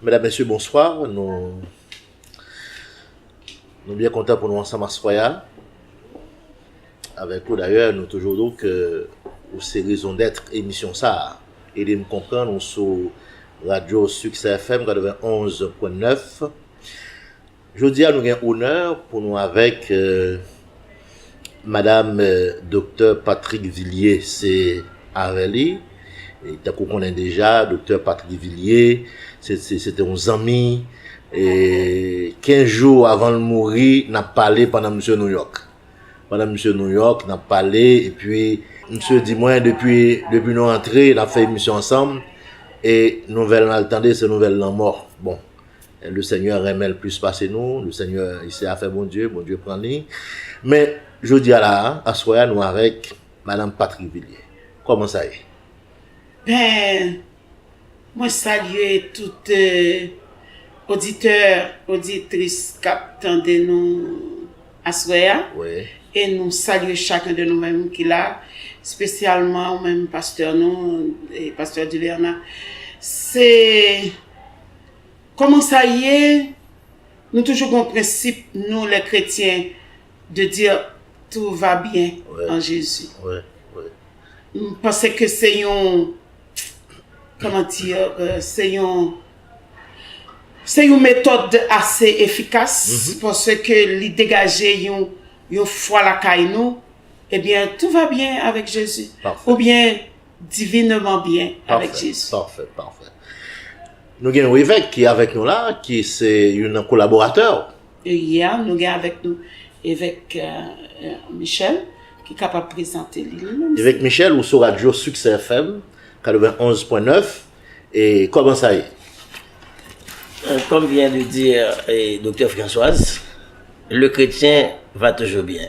Medam mesye bonswa nou Nou byen kontan pou nou ansanm aswè a avèk ou dayè nou toujou dou ke ou se rezon dèt emisyon sa a ede m konprann ou sou radyo Suksè FM 91.9. Jodi a nou gen onè pou nou avèk madam doktè Patrick Villiers se avè li tankou w konnen deja doktè Patrick Villiers se te yon zanmi 15 jou avan l mouri n ap pale pandan misye Nouyòk pandan misye Nouyòk n ap pale epi misye di mwen depi nou antre n ap fè emisyon ansanm e nouvèl n al tande se nouvèl lanmò bon Le Seigneur renmen l plis pase nou, le Seigneur se afè Bondye, Bondye pran li. Men jodi a la a, aswè a nou avèk Madame Patrick Villiers. Kòman sa ye? Ben, mwen salye tout oditè, oditris k ap tande nou aswè a. E nou salye chaken de nou menm ki la, spesyalman ou menm pastè nou, pastè Dilerna. Se Koman sa ye Nou toujou gon prensip nou les chrétiens de dire tout va bien en Jésus m panse ke se yon comment dire se yon se yon metòd ase efikas paske li degaje yon yon fwa lakay nou ebyen tout va bien avec Jésus oubyen divinement byen avèk Jezi. Pafè, pafè, pafè. Nou gen yon evèk ki avèk nou la, ki se yon nan kolaboratè ou. Yea, nou gen avèk nou evèk Michel ki kapab prezante li li menm. Evèk Michel ou sou radyo Succès FM 91.9 e kòman sa ye? Comme vient de dire Doktè Françoise, le chrétien va toujours bien.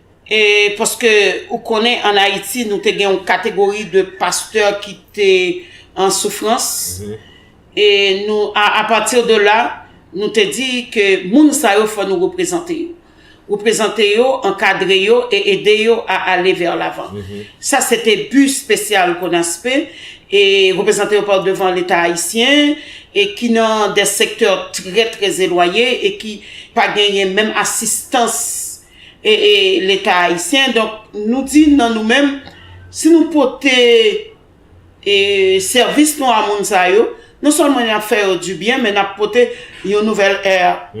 E paske ou konnen an Ayiti nou te gen yon kategori de pastè ki te an soufrans. E nou a apati de la nou te di ke moun sa yo fò nou reprezante yo. Reprezante yo, ankadre yo e ede yo a ale vè lavan. Sa se te bi spesyal Konaspe e reprezante yo pa devan leta Ayisyen e ki nan de sektè trè trè zelwaye e ki pa genyen menm asistans leta ayisyen donk nou di nan nou menm si nou pote sèvis nou a moun sa yo non sèlman n ap fè yo di byen men n ap pote yon nouvèl è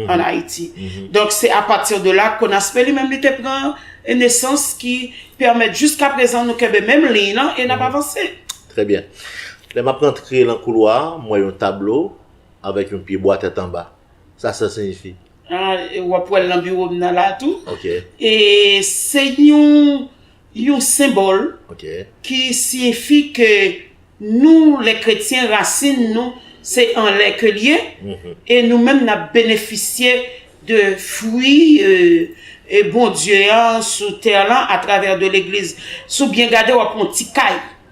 an ayiti donk se apati de la konaspe li menm li te pran nesans ki pèmèt jiska prezan nou kenbe menm liy lan e n ap avanse trè byen lè m ap rantre lan koulwa m wè yon tablo avèk yon pyebwa tèt anba. Sa sa siyifi? Ahh wap wèl nan biwo m nan la tou. Ok. E se yon yon senbòl Ok. ki siyifi ke nou lè kretyen rasin nou se anlè ke l ye e nou menm n ap benefisye de fwi Bondye an sou tè lan atravè de legliz. Si w byen gade w ap wè yon ti kay.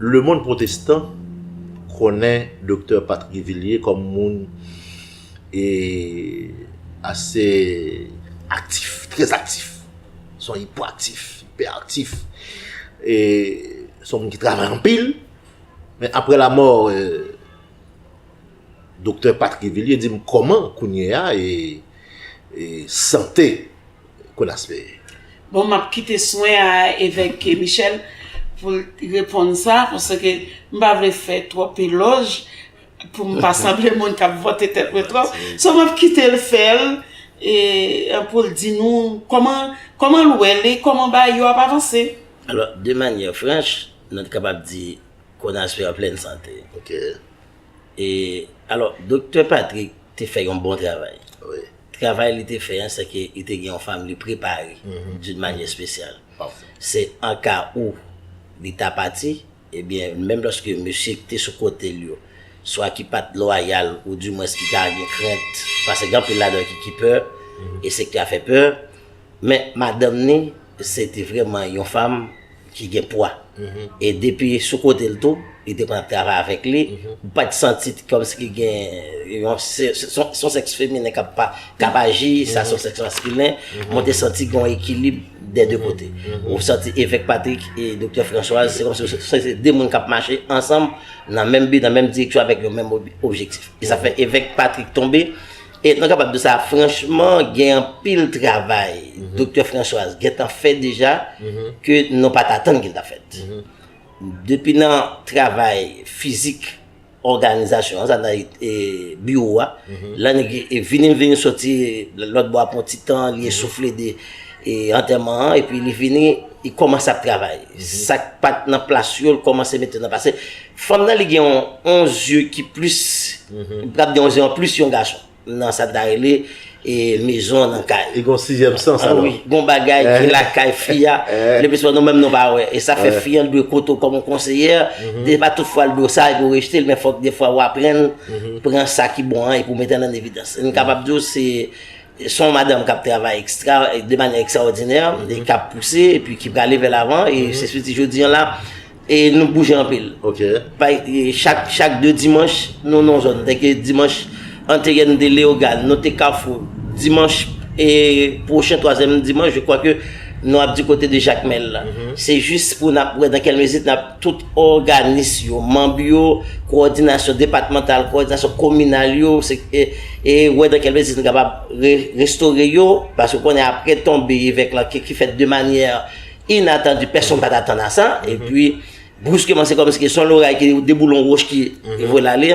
Lemonn pwotestan konnen Doktè Patrick Villiers kòm moun e ase aktif, trè aktif. Se yon ipwaaktif, ipèaktif. E se yon moun ki travay anpil. Men apre lamò Doktè Patrick Villiers di m kòman kounye a e sante. Colas peye. Bon map kite swen a evèk Michel poul reponn sa paske m pa vle fè twòp elòj poum pa sanble moun kap vante tèt mwen twòp so map kitel fèl poul di nou kòman kòman l wè li kòman bagay yo ap avanse. Alò de manyè franch nou t kapab di Conas peye an plèn sante ok e alò doktè Patrick te fè yon bon travay wi. Travay li te fè an se ke li te gen yon fanm li prepare d'une manière spéciale. Se an ka ou li ta pati, ebyen menm loske mesye ki te sou kote l yo swa ki pat lwayal ou dimwens ki ta gen krent, paske gen anpil ladan yo ki pè e se ki a fè pè, Men madanm ni se te vreman yon fanm ki gen pwa. E depi sou kote l tou, li te konn ap travay avèk li. Ou pa t santi kòm si ki gen yon, son sèks feminen k ap aji, sa son sèks maskilen. Men w te santi gen yon ekilib dè de kote. Ou santi Evèk Patrik e Doktè Franswaz, se kòm si se te de moun k ap mache ansanm nan menm bi, nan menm direksyon avèk yon menm objektif. E sa fè Evèk Patrik tonbe. E nou kapab di sa franchman gen anpil travay Doktè Françoise gentan fè deja ke nou pa t atann ke l t ap fèt. Depi nan travay fizik òganizasyon an, sa vle di biwo a, lè li vini, li vini soti lòtbò a pou yon ti tan, li esoufle de antèman an epi li vini, li kòmanse ap travay. Sa k pa t nan plas yo, li kòmanse mete nan plas yo. Fanm nan li gen yon yon zye ki plis li pral gen yon zye anplis yon gason nan sa n ta rele mezon an nan kay. Li gen yon sizyèm sans alò. Wi, gen yon bagay ki lakay fi a le plis souvan nou menm nou pa wè e sa fè fi an dwe koute w kòm yon konseyè e pa tout fwa l di w sa epi w rejte l men fòk defwa w aprann pran sa ki bon an epi w mete l an evidans. M kapab di w se se yon madanm k ap travay ekstra de manyè ekstraòdinè e k ap pouse epi ki prale vè lavan e se sou ti jodi an la E nou bouje anpil. Ok. Bay, chak, chak 2 dimanch, nou nan yon zòn. Dèke dimanch anterye nou te Leyogàn, nou te Kafou. Dimanch e pwochen, twazyèm dimanch, je kwa ke nou ap di kote de Jakmèl la. Se jis pou n ap wè dan kèl mezi n ap tout òganis yo, manb yo, kowòdinasyon depatmantal, kowòdinasyon kominal yo, se e, e wè dan kèl mezi nou kapab re, restore yo. Paske ou konnen apre tonbe evèk lan, ke ki fèt de manyè. Inatandi, pèsonn pa t atann a sa, epi briskeman se kòm si ke son loray ki deboulon woch ki vole ale,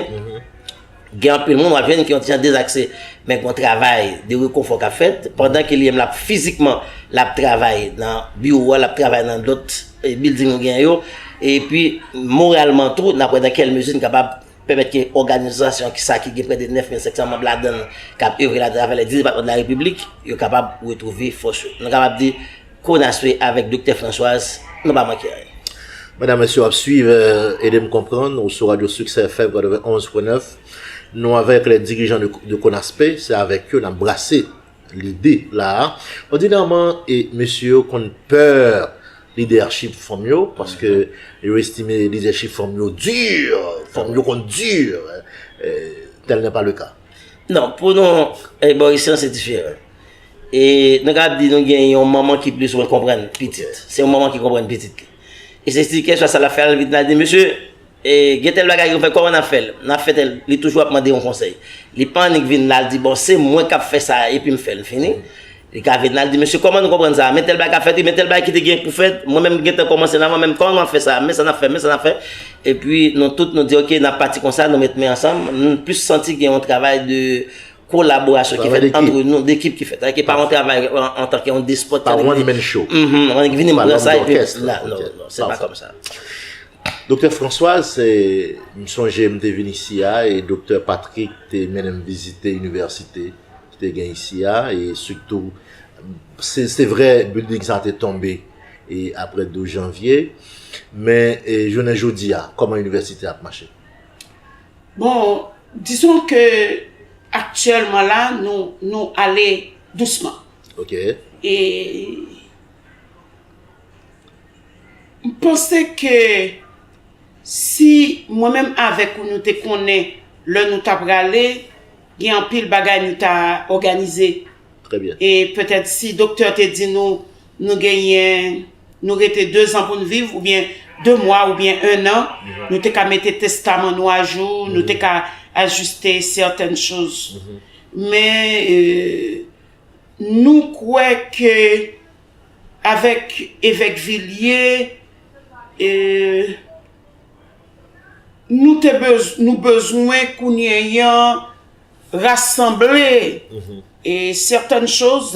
gen anpil moun w ap jwenn ki yon ti jan dezakse, men gen yon travay de rekonfò k ap fèt, pandan ke li menm l ap fizikman l ap travay nan biwo a, l ap travay nan lòt bilding nou genyen yo, epi moralman tou, n ap wè nan kèl mezi n kapab pèmèt ke òganizasyon ki sa ki gen prè de 9500 manm ladann, k ap evre ladan avè lèd di depatman de la repiblik, yo kapab retwouve fòs yo. Nou kapab di. Konaswe avèk Doktè Françoise nou pa manke anyen. Medam mesye wap swiv ede m konprann ou sou radyo succès FM 91 pwen 9 nou avèk lè dirijan de konaspe se avèk yo nap brase lide la a òdinèman e mesye yo konn pè lidèchip fanm yo paske yo estime lidèchip fanm yo di fanm yo konn di tèl nè pa le ka. Non pou nou ebòrisyon se diferan. E nou kapab di nou gen yon manman ki plis ou mwen konprann pitit. Se yon manman ki konprann pitit li. E se si kesyon sa l ap fè, l vin al di, mesye, gen tèl bagay yo fè, kòman n ap fè l? N ap fè tèl. Li toujou ap mande yon konsèy. Li pa annik vin la l di, bon, se mwen k ap fè sa a epi m fè l fini. Li ka vin la l di, mesye, kòman nou konprann sa a? Men tèl bagay k ap fèt wi, men tèl bagay ki te gen pou fèt, mwen menm m gen tan kòmanse l anvan, men kòman nou ap fè sa a? Men sa n ap fè, men sa n ap fè. Epi nou tout nou di, ok, n ap pati konsa, nou met men ansanm. M plis santi gen yon travay de. kolaborasyon ki fèt antre nou, d'ekip ki fèt. Ake pa yon travay antan ke yon despot. Pa one man show. Mh, mh, vini m pran sa epi. Pa lòm dòkès. La, non, non, se pa kòm sa. Doktè Françoise, se, m sonje m te vin isi a, e Doktè Patrick te mennen m vizite inivèsite ki te gen isi a, e sitou, se, se vre building sa te tonbe e apre 12 janvye, men, e jounen jodi a, kòman inivèsite a ap mache? Bon, disons que actuellement là, nou, nou ale dousman. Ok. E, m panse ke si mwen menm avèk ou nou te konnen lè nou ta prale, gen anpil bagay nou ta òganize. Trè byen. E petèt si doktè te di nou, nou genyen. nou rete 2 zan pou n viv ou byen 2 mwa ou byen 1 nan, nou te ka mete testaman nou ajou, nou te ka ajiste sètèn choz. Men nou kwè ke avèk Evèk Vilye nou te nou bezwen kounye yan rasanble sètèn choz.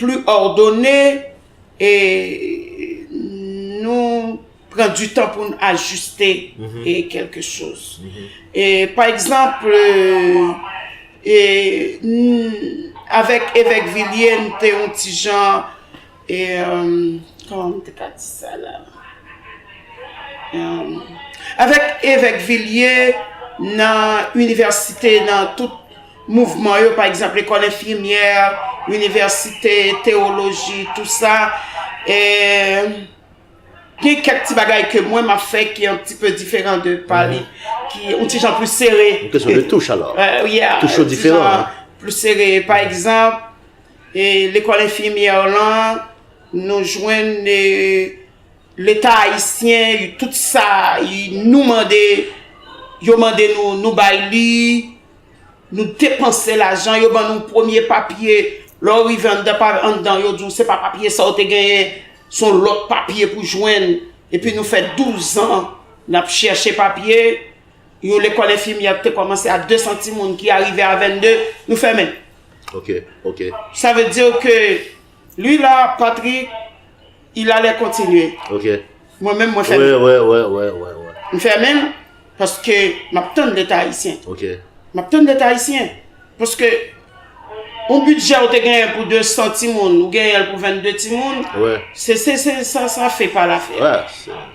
pli òdone e nou pran di tan pou n ajiste kelke choz. Pa egzanp, avèk Evèk Vilye n te yon ti jan, kòman m te ka di sa la? Avèk Evèk Vilye nan inivèsite nan tout Mouvman yo, pa egzanp, lekòl enfimyè, inivèsite, tewoloji, tou sa, e, gen kèk ti bagay ke mwen m ap fè ki an pti pe diferan de pa li, ki on ti jan plis sere. Yon kesyon de touch alò. Ya. Touch yo diferan. Yon ti jan plis sere. Pa egzanp, e, lekòl enfimyè lan, nou jwenn e, leta ayisyen, tout sa, nou mande, yo mande nou, nou bay li. Nou depanse lajan, yo ban nou premye papye, lè w rive anndan pa anndan yo di w se pa papye sa w te genyen, se yon lòt papye pou jwenn, epi nou fè douzan n ap chèche papye, yon lekòl enfimyè ki te kòmanse a desan timoun ki arive a vennde, nou fèmen. Ok, ok. Sa vle di ke, li la, Patrick. Il ale kontinye. Ok. Mwen menm mwen fèmen. Wè wè wè wè. M fèmen l paske m ap tann leta ayisyen. Ok. M ap tann leta ayisyen. Paske yon bidjè ou te genyen pou 200 timoun, ou genyen l pou 22 timoun. Wè. Se se se sa sa fè pa la fè. Wè.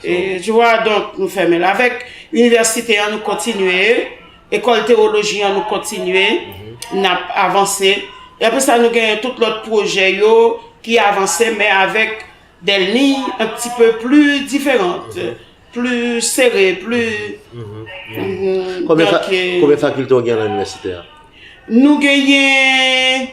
E tu wè donk nou fèmen l. Avèk inivèsite an nou kontinye. Ekòl tewoloji an nou kontinye, n ap avanse. E apre sa nou gen tout lòt pwojè yo ki avanse men avèk dè liy an ti pe pli diferant, pli sere, pli donk. Konbyen fakilte ou gen lan inivèsite a? Nou genyen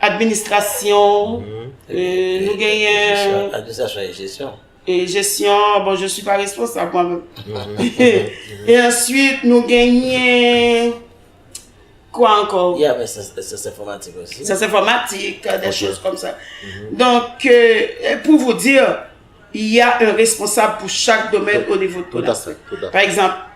administrasyon, nou genyen. Administrasyon e jesyon. E jesyon, bon je suis pas responsable mwen menm. E answit nou genyen, kwa ankò? Ye avè syans enfòmatik osi. Syans enfòmatik, de choz kòm sa. Donk, pou vou dir, y a un responsable pou chak domèn o nivo de Pôle Aswè. Tout a fè, tout a fè. Pa egzanp,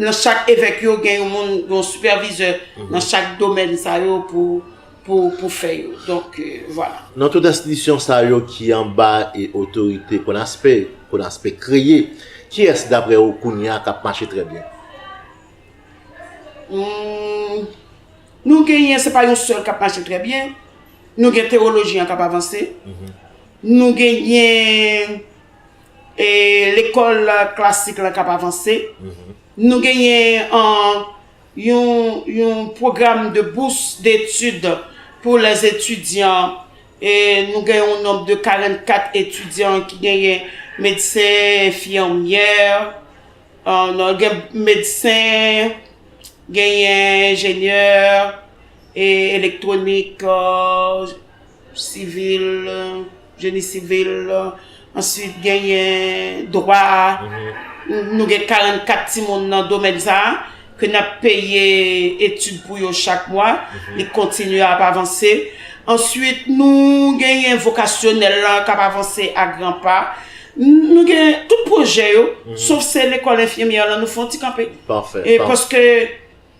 Nan chak evèk yo gen yon moun, yon sipèvizè nan chak domèn sa yo pou fè yo. Donk, vwala. Nan tout enstitisyon sa yo ki anba e otorite Konaspe, Konaspe kreye, kiyès daprè ou kounye a k ap mache trè byen? Nou genyen, se pa yon sèl k ap mache trè byen. Nou gen tewoloji an k ap avanse. Nou genyen E lekòl klasik lan k ap avanse. Nou genyen yon pwogram de bous detid pou lè etidyan. Nou gen yon nonb de 44 etidyan ki genyen medsen, enfimyè, gen medsen, genyen enjenyè elektwonik. Sivil, jeni sivil, answit genyen dwa, nou gen 44 timoun nan domèn sa, ke n ap peye etid pou yo chak mwa, li kontinye ap avanse. Answit nou genyen vokasyonèl la k ap avanse a gran pa. Nou gen tout pwojè yo, sof se lekòl enfimyè lan nou fè yon ti kanpe. Pafè. Paske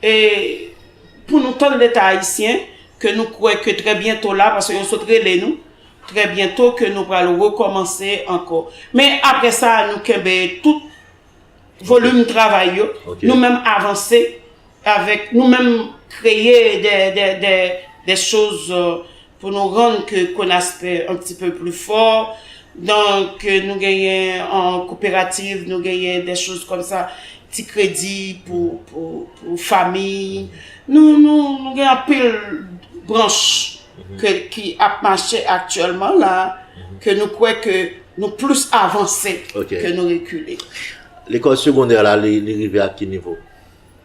E pou nou tann leta ayisyen ke nou kwè ke trè byento la, paske yo sot rele nou, trè byento ke nou pral rekòmanse ankò. Men apre sa nou kenbe tout volim travay yo, nou menm avanse avèk, nou menm kreye de chòz Pou nou rann ke Konaspe un ti peu plus fort, donc nou genyen en coopérative, nou genyen des choses comme ça, ti kredi pou pou famiy, nou nou nou gen anpil branch ke ki ap mache aktyèlman la, ke nou kwè ke nou plus avanse ke nou rekile. Lekòl segondè la li rive ak ki nivo?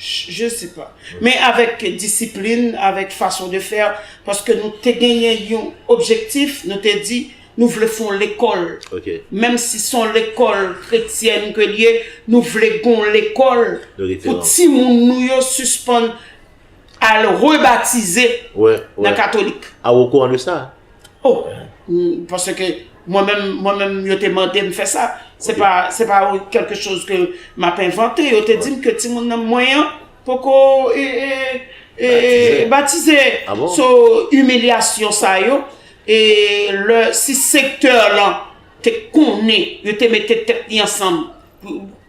Je sais pas. Men avèk disiplin, avèk fason de fè, paske nou te genyen yon objektif, nou te di nou vle fon lekòl. Ok. Menm si son lekòl kretyèn ke li ye, nou vle gon lekòl De referans. pou timoun nou yo sispann al rebatize Wè, wè. nan katolik. A ou okouran de sa? Oh, paske mwen menm, mwen menm yo te mande m fè sa. Se pa, se pa ou kelke choz ke m ap envante. Yo te di m ke timoun nan mwen an poko e, e, e, e batize. Ah bon? So, imilyasyon sa yo, e lè, si sektè lan te konnen, yo te mete tèt li ansanm.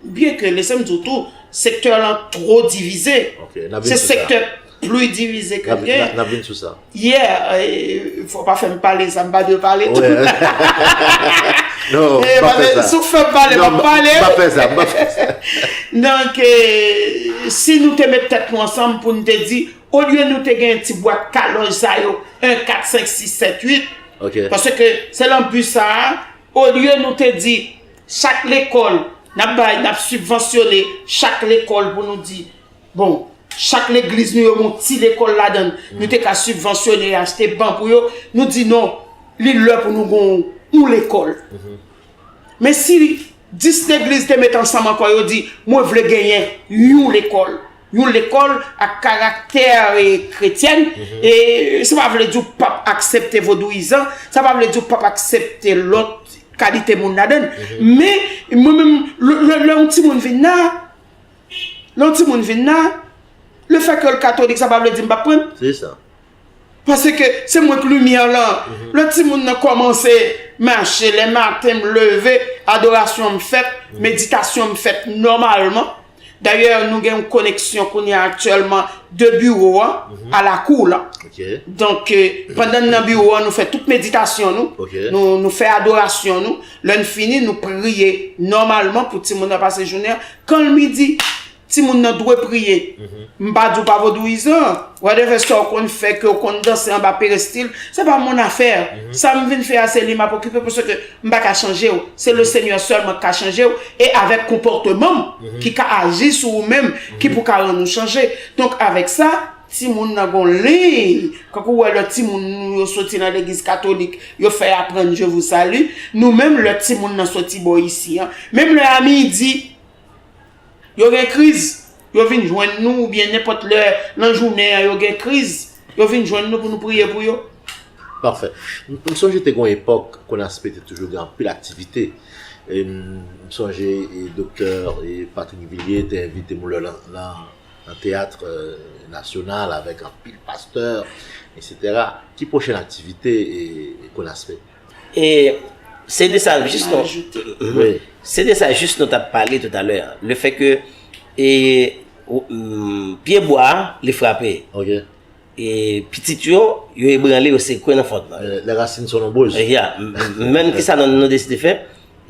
Byen ke lese m di w tou, sektè lan two divize. Ok, n ap vin sou sa. Se sektè pli divize ke l gen. N ap vin sou sa. Yeah, fò pa fè m pale sa m pa dwe pale tou. Wè. Non, m pa fè sa. Si w fè m pale, m ap pale. Non, m pa fè sa, m pa fè sa. Donk, si nou te met tèt nou ansanm pou n te di, olye nou te gen ti bwat kalòj sa yo, 1, 4, 5, 6, 7, 8. Ok. Paske se lan bi sa a, olye nou te di, Chak lekòl, n ap bay, n ap sibvansyone chak lekòl pou nou di, bon, chak legliz nou yo gen yon ti lekòl ladan l, nou te ka sibvansyone e achte ban pou yo, nou di non, li lè pou nou gen yon lekòl. Men si 10 legliz te met ansanm ankò yo di, mwen vle genyen yon lekòl. yon lekòl ak karaktè kretyèn, e sa pa vle di ou pap aksepte vodouyizan, sa pa vle di ou pap aksepte lòt kalite moun ladann. Men, mwen menm, lè yon timoun vin la, lè yon timoun vin la, le fè ke l katolik sa pa vle di m pap pran l. Se sa. Pase ke se mwen k limyè lan. Lè timoun nan kòmanse mache, lè maten m leve, adorasyon m fèt, meditasyon m fèt nòmalman. Dayè nou gen yon koneksyon kounye a aktyèlman de biwo a mhm. a lakou w lan. Donk, pandan nan biwo a, nou fè tout meditasyon nou, nou fè adorasyon nou, lè n fini, nou priye nòmalman pou ti moun nan pase jounen. Kan l midi, ti moun nan dwe priye. Mhm. M pa di w pa vodouyizan, wè de vè sa w konn fè, ke w konn danse anba perestil, se pa moun afè. Mhm. Sa m vin fè a se li m apokipe, pou se ke M pa ka chanje w, se le Senyè sèlman k ka chanje w, e avèk konpòteman m ki ka aji sou ou menm ki pou ka rann ou chanje. Donk avèk sa, timoun nan gon liy, kankou ou wè lè timoun nou yo soti nan legliz katolik, yo fè aprann je vou sali, nou menm lè timoun nan soti bò isi an, menm lè a midi, Yo gen kriz, yo vin jwenn nou oubyen nenpòt lè nan jounen an yo gen kriz, yo vin jwenn nou pou nou priye pou yo. Pafè. M sonje te gen yon epòk KONASPE te toujou gen anpil aktivite. M sonje Doktè Patrick Villier te envite m lè nan teyat nasyonal avèk anpil pastè, eksetera. Ki pwochen aktivite KONASPE? E se de sa jis nou Se de sa jis nou tap pale tout alè Le fè ke E Pye bwa a li frape Ok E pitit yo Yo ebranle yo sekwe nan fond nan Les racines sont nombreuses Ya Menm kisa nou deside fè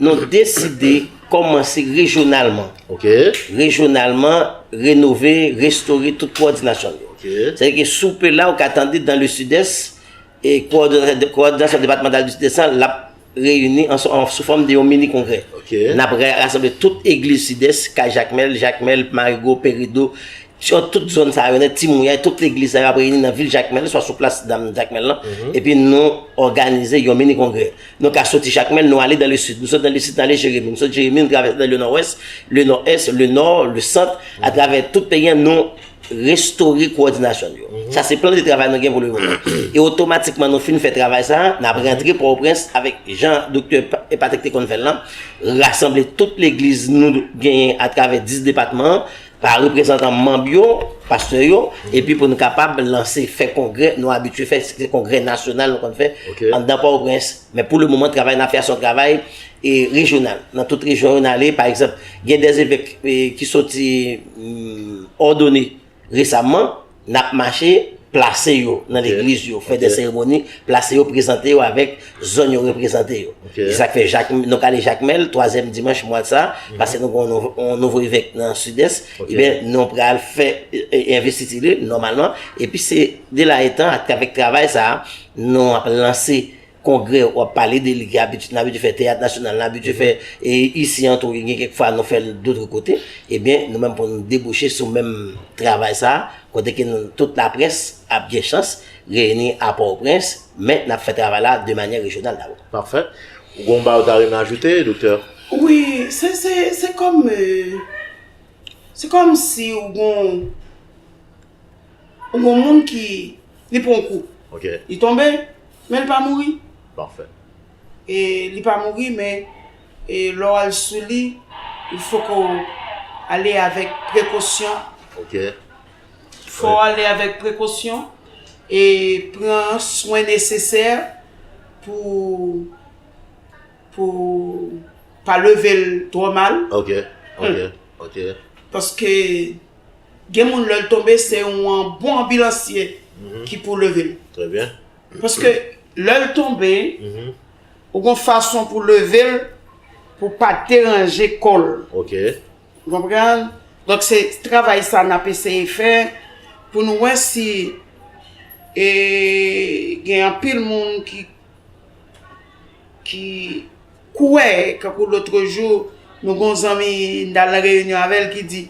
Nou deside Kòmanse rejyonalman Ok Rejyonalman Renove Restore tout pwòdinasyon yo Ok Sèke soupe la ou ka tande dans le sud est Kowòdinasyon depatmantal Distri 200 l ap reyini sou fòm de yon mini kongrè. N ap rasanble tout egliz Sidès, Kay Jakmèl, Jakmèl, Marigo, Perido, swa tout zòn sa yo nèt, Ti Mouyay, tout legliz sa yo ap reyini nan vil Jakmèl, swa sou plas dam Jakmèl lan, epi nou òganize yon mini kongrè. Nou ka soti Jakmèl, nou ale dan le Sid. Nou soti dan le Sid, nou ale Jeremi. Nou soti Jeremi, nou travèse nan le Nòwès, le Nò-Ès, le Nò, le Sant, atravè tout peyi an, nou. restore kowòdinasyon l yo. Sa se plan de travay nou gen pou lemonnen an. E otomatikman nou fin fè travay sa a, n ap rantre Pòtoprens avèk jan Doktè Patrick te konn fè l lan, rasanble tout legliz nou genyen atravè 10 depatman an, pa reprezantan manm yo, pastè yo, epi pou nou kapab lanse, fè kongrè nou abitye fè, se kongrè nasyonal nou konn fè anndan Pòtoprens. Men pou le moman travay nan fè a se yon travay rejyonal. Nan tout rejyon yo nan ale, pa egzanp, gen de zevèk ki soti òdone resamman, n ap mache plase yo nan legliz yo, fè de seremoni, plase yo, prezante yo avèk zòn yo reprezante yo. Se sa k fè jak, nou ka ale Jakmèl, twazyèm dimanch mwa sa, pase nou gen yon nouvo evèk nan Sidès, enben nou pral fè envestiti li, nòmalman, epi se de la etan, atravèk travay sa a, Nou ap lanse kongrè w ap pale de li ki abitid n abitid fè teyat nasyonal n abitid fè e isi antou e gen kèk fwa nou fè l dotre kote ebyen nou menm pou n debouche sou menm travay sa kote ke nou tout laprès ap gen chans reyini a Pòtoprens men n ap fè travay la de manyè rejyonal dabò. Pafè. Ou gon bagay ou ta renmen ajoute doktè? Wi, se se se kòm se kòm si ou gon. Yon moun ki li pran yon kou. Ok. Li tonbe, men li pa mouri. Pafè. E li pa mouri men e lè w al sou li, il fo ke w ale avèk prekosyon. Ok. Fò w ale avèk prekosyon e pran swen nesesè pou pou pa leve l twò mal. Ok, ok, ok. Paske Gen moun lèl tonbe se yon bon anbilansye ki pou level. Très bien. Paske lèl tonbe ou gon fason pou level pou pa deranje kòl. Ok. Ou konprann? Donk se travay sa nap eseye fè pou nou wè si e gen anpil moun ki ki kouwè kankou lotrejou nou gon zanmi n tal nan reyinyon avèl ki di.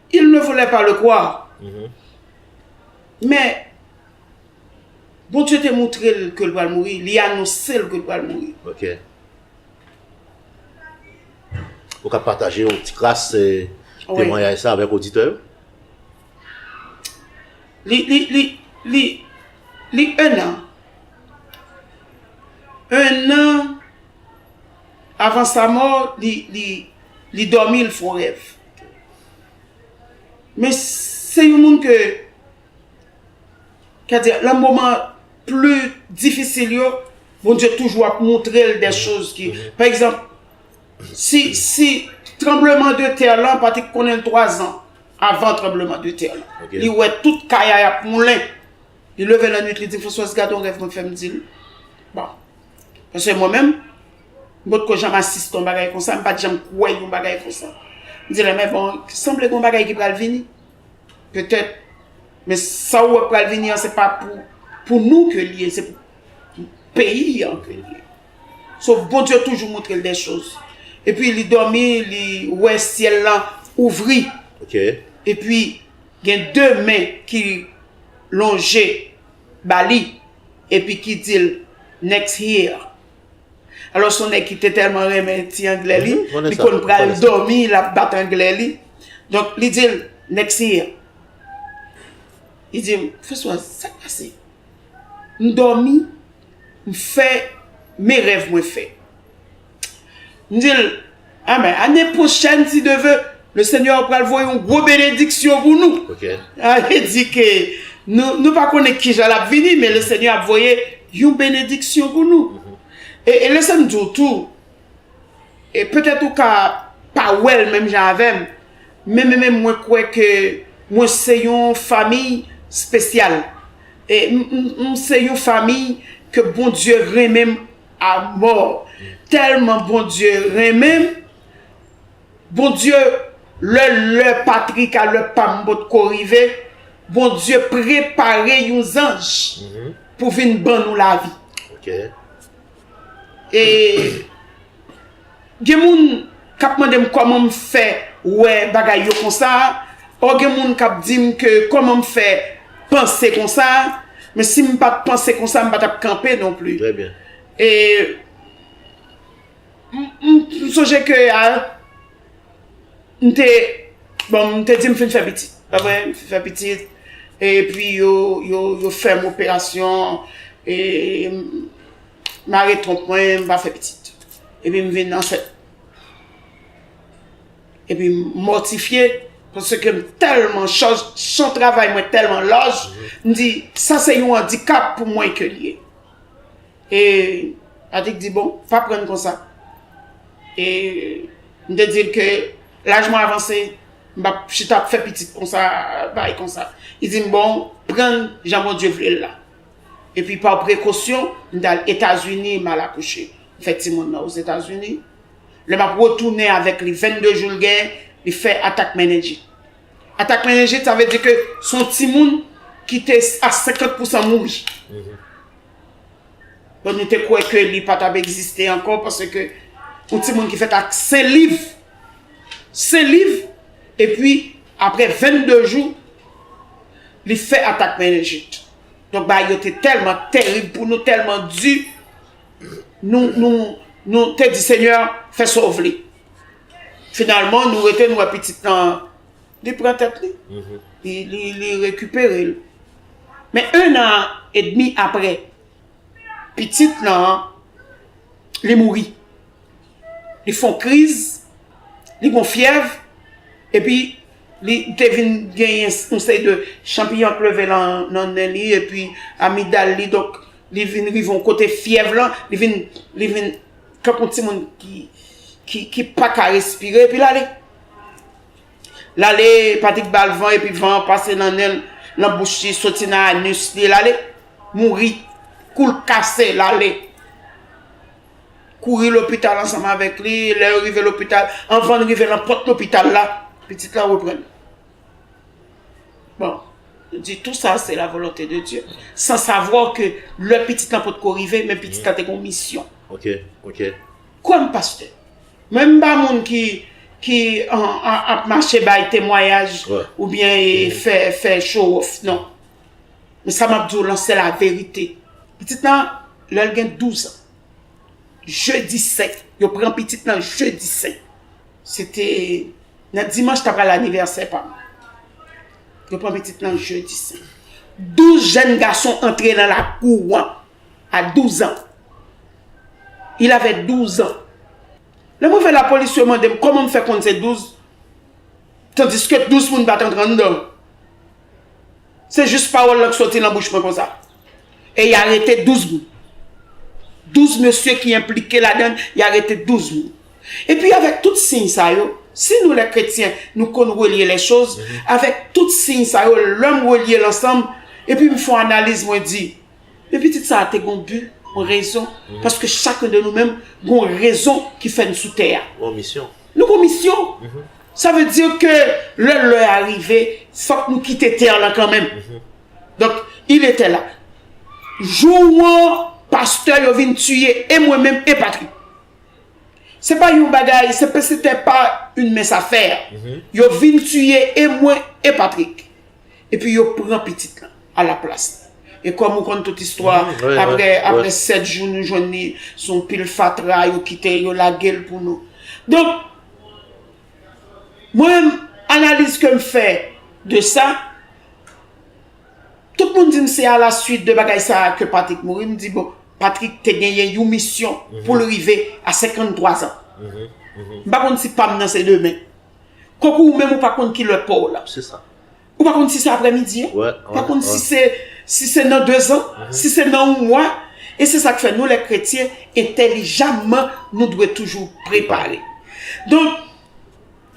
Il ne voulait pas le croire. Men, Bondye te moutre l ke l pral mouri, li anonse l ke l pral mouri. Ok. Ou ka pataje yon ti kras temwanyaj sa avèk oditè yo? Li, li, li, li, li 1 an. 1 an. Avan sa mò li dòmi l fon rèv. Men se yon moun ke kè di lan moman pli difisil yo Bondye toujou ap moutre l de choz ki pa egzanp si tranbleman de tè lan pa te konnen l 3 zan avan tranbleman de tè lan li wè tout kay a ap moulen li leve lan nwit li di Françoise gade yon rèv mwen fè m di l bon. Paske mwen menm, m pot ko janm asiste yon bagay konsa, m pat janm kwè yon bagay konsa. M di lè mè bon, sanble gon bagay ki pral vini. Petèt, men sa ou wè k pral vini an se pa pou nou ke li ye, se pou peyi an ke li ye. So, Bondye toujou montre l de choz. E pi li dòmi, li wè syèl lan ouvri. E pi gen de men ki lonje. ba li epi ki di l next here alò son nèg ki te tèlman renmen ti anglè li li konn pral dòmi l ap bat anglè li donk li di l next here li di l François sa k pase m dòmi m fè men rèv mwen fè. M di l, Amen. Ane pwochèn, si Dye ve, le Senyè pral voye yon gwo benediksyon pou nou. Ok. Li di ke nou, nou pa konnen ki jan l ap vini, men le Senyè ap voye yon benediksyon pou nou. E, e lese m di w tou, e petèt ou ka pa wè l menm jan avè m, men men menm mwen kwè ke mwen se yon famiy spesyal. E m, m se yon famiy ke Bondye renmen m. A mò. Tèlman Bondye renmenm. Bondye lè lè Patrick a lè pam potko rive Bondye prepare yon zanj pou vin ban nou lavi. E. Gen moun kap mandem koman m fè wè bagay yo konsa or gen moun kap dim ke koman m fè panse konsa men si m pat panse konsa m pa tap kanpe non pli e m sonje ke a m te bon m te di m fin fè pitit pa vre m fin fè pitit epi yo fèm operasyon e m. Mare twonp mwen m pa fè pitit. Epi m vin ansent. Epi m mòtifye. Paske m tèlman chòj. Chan travay mwen tèlman laj. M di sa se yon andikap pou mwen ke l ye. E Patrick di bon pa prann konsa. E m te di l ke laj mwen avanse. M pa p chita ap fè pitit konsa. Bay konsa. Li di m bon prann jan Bondye vle l la. Epi pa prekosyon, m t al Etazini, m al akouche. M fè timoun nan Ozetazini. Lè m ap retounen avèk li, 22 jou l gen, li fè atak menenjit. Atak menenjit, sa vle di ke se yon timoun ki te a 50 pousan mouri. Bon, nou te kwè ke li pa t ap egziste ankò paske yon timoun ki fèt ak sen liv, sen liv, epi apre 22 jou, li fè atak menenjit. Donk bagay yo te tèlman terib pou nou, tèlman di, nou te di Senyè, fè sa w vle. Finalman, nou rete nou wè pitit nan, li pran tèt li, li rekipere l. Men 1 an edmi apre, pitit nan, li mouri. Li fon kriz, li gon fyèv, epi. Li te vin genyen yon seri de chanpiyon ap leve nan nen li epi amigdal li donk li vin rive yon kote fyèv lan li vin li vin tankou yon timoun ki ki paka respire epi lale lale Patrick bal van epi van an pase nan nen l nan bouch li soti nan anus li lale mouri kou l kase lale. kouri lopital ansanm avèk li, lè yo rive lopital, anvan rive nan pòt lopital la, pitit la reprann. Bon, nou di tou sa se la volonte de Dieu, san savwa ke lè pitit la pot ko rive, men pitit la te kon misyon. Ok, ok. Kwèm pastè, mwen m pa moun ki, ki ap mache bay temwayaj, oubyen fè, fè show off, non. Men sa map diw lan se la verite. Pitit lan lèl gen 12 an. Jeudi saint. Yo pran pitit lan jeudi saint. Se te nan dimanche ta pral anivèsè pam. Yo pran pitit lan jeudi saint. 12 jèn gason antre nan la kou wan. A 12 an. Il avè 12 an. Lè mwen vè la polis yo mandem koman m fè konn se 12. Tandiske 12 moun pa t antre anndan l. Se jis pawòl lan k soti lan bouch mwen konsa. E y arete 12 moun. 12 mesye ki enplike ladan l, y arete 12 moun. Epi avèk tout siy sa yo, si nou lè kretyen nou konn relye lèchoz, avèk tout siy sa yo, lè m relye l ansanm, epi m fon analiz mwen di, Men pitit sa a te gen yon bi, yon rezon, paske chakun de nou menm gen yon rezon ki fè n sou tè a. Yon misyon. Nou gen yon misyon. Sa vle di ke lè lè a rive, fòk nou kite tè lan kan menm. Donk, il etè la. Jou an, pastè yo vin tiye e mwen menm e Patrick. Se pa yon bagay, se te pa un mens a fè. Yo vin tiye e mwen e Patrick. Epi yo pran pitit lan a la plas li. E kòm ou konn tout istwa, aprè aprè 7 jou nou jwenn li sou yon pil fatra, yo kite, yo lage l pou nou. Donk, mwen menm analiz ke m fè de sa, tout moun di m se a la suit de bagay sa a ke Patrick mouri, m di bon, Patrick te genyen yon misyon pou l rive a 53 zan. M pa konn si pa m nan se demen. Konkou ou menm ou pa konn ki lè paw la. Se sa. Ou pa konn si se aprè midi an. Wè. Ou pa konn si se, si se nan dezan, si se nan yon mwa. E se sa k fè nou lè kretyen, entèlijamman nou dwe toujou prepare. Donk,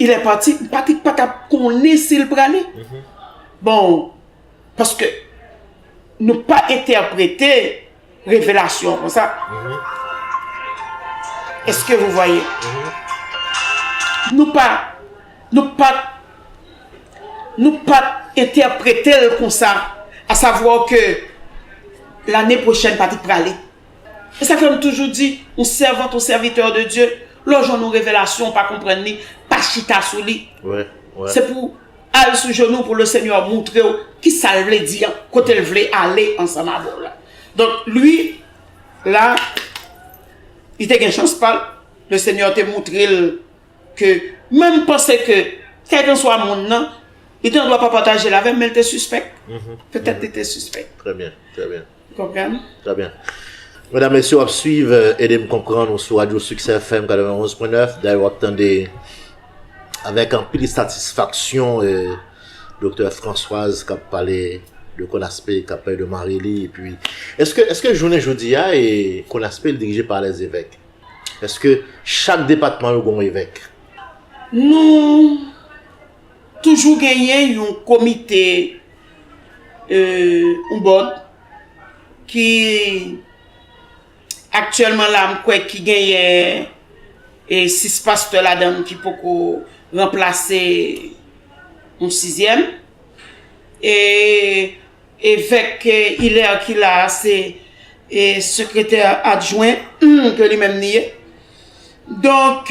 il est parti, m pati pa tap konnen si l prale. Bon, paske nou pa entèprete. Revelasyon konsa. Eske vou vwaye? Nou pa, nou pa, nou pa entèprete l konsa. A savwa ke lane pwochèn pa te prale. E sa fè m toujou di, yon sèvant, yon sèvitè de Dye, lè w jwenn yon revelasyon ou pa konprann li, pa chita sou li. Se pou. Al sou jenou pou le seigneur moutrew kisal vle di an kotel vle ale ansanm avèw la donk lui la li te gen chans pal le seigneur te moutrel ke menm m panse ke kèlkanswa moun nan li te andwa pa patajel avèm men li te sispèk petèt li te sispèk. Trè byen, trè byen. Konprann? Trè byen. Medam, mesye, w ap swiv Ede m konprann ou sou radyo Succès FM 91.9. Dayè w ap tande avèk anpil satisfaksyon Doktè Françoise k ap pale de Konaspe, k ap pale de mari li. Epi, èske, èske jounen jodi a e Konaspe li dirije pa lèzevèk? Èske chak depatman yo gen yon evèk? Nou Toujou genyen yon komite ou bòd ki aktyèlman la m kwè ki genyen 6 pastè ladan l ki poko ranplase yon sizyèm e evèk Hilaire ki la a se sekretè adjwen ke li menm li ye donk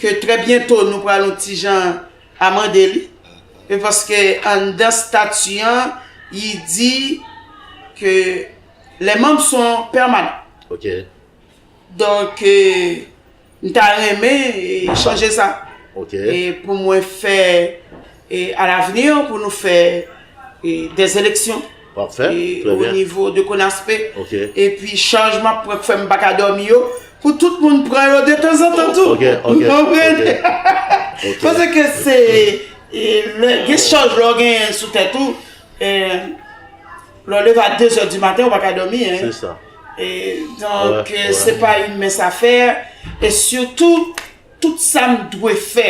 ke trè byento nou pral yon ti jan amande li, e paske anndan stati an li di ke les membres sont permanents. Ok. Donk m ta renmen chanje sa. Ok. E pou mwen fè E a l'avenir pou nou fè des eleksyon. Parfait, très bien. O nivo de Konaspe. Ok. E pi chaj m'ap pran k fè m'pa ka dòmi yo, pou tout moun pran yo de tanzantan tou. Ok, ok. Ou konprann? Ok. Pase ke se, gen chaj lè w genyen sou tèt ou, lè w leve a 2 zè di maten ou pa ka dòmi. Se sa. E donk se pa yn mens a fè, e sitou tout sa m dwe fè,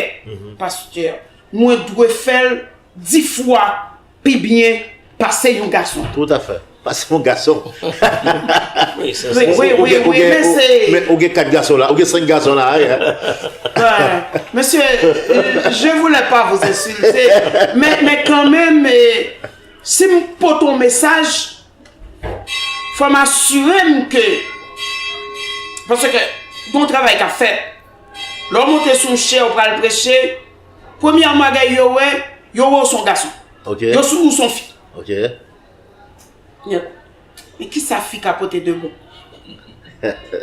Pasteur. Mwen dwe fè l di fwa pi byen pase yon gason. Tout a fè. Pase yon gason. Ou gen 4 gason la. Ou gen 5 gason la. Mesye, je voulè pa vou ensilte. Men kan men, si m pote yon mesaj, fwa m asire m ke, paske yon travay ka fè. Lè w monte sou yon chè ou pral preche, premyèman bagay yo wè, yo wè w s on gason. Yo sou ou s on fi. Men kisa fi ka pote de bon?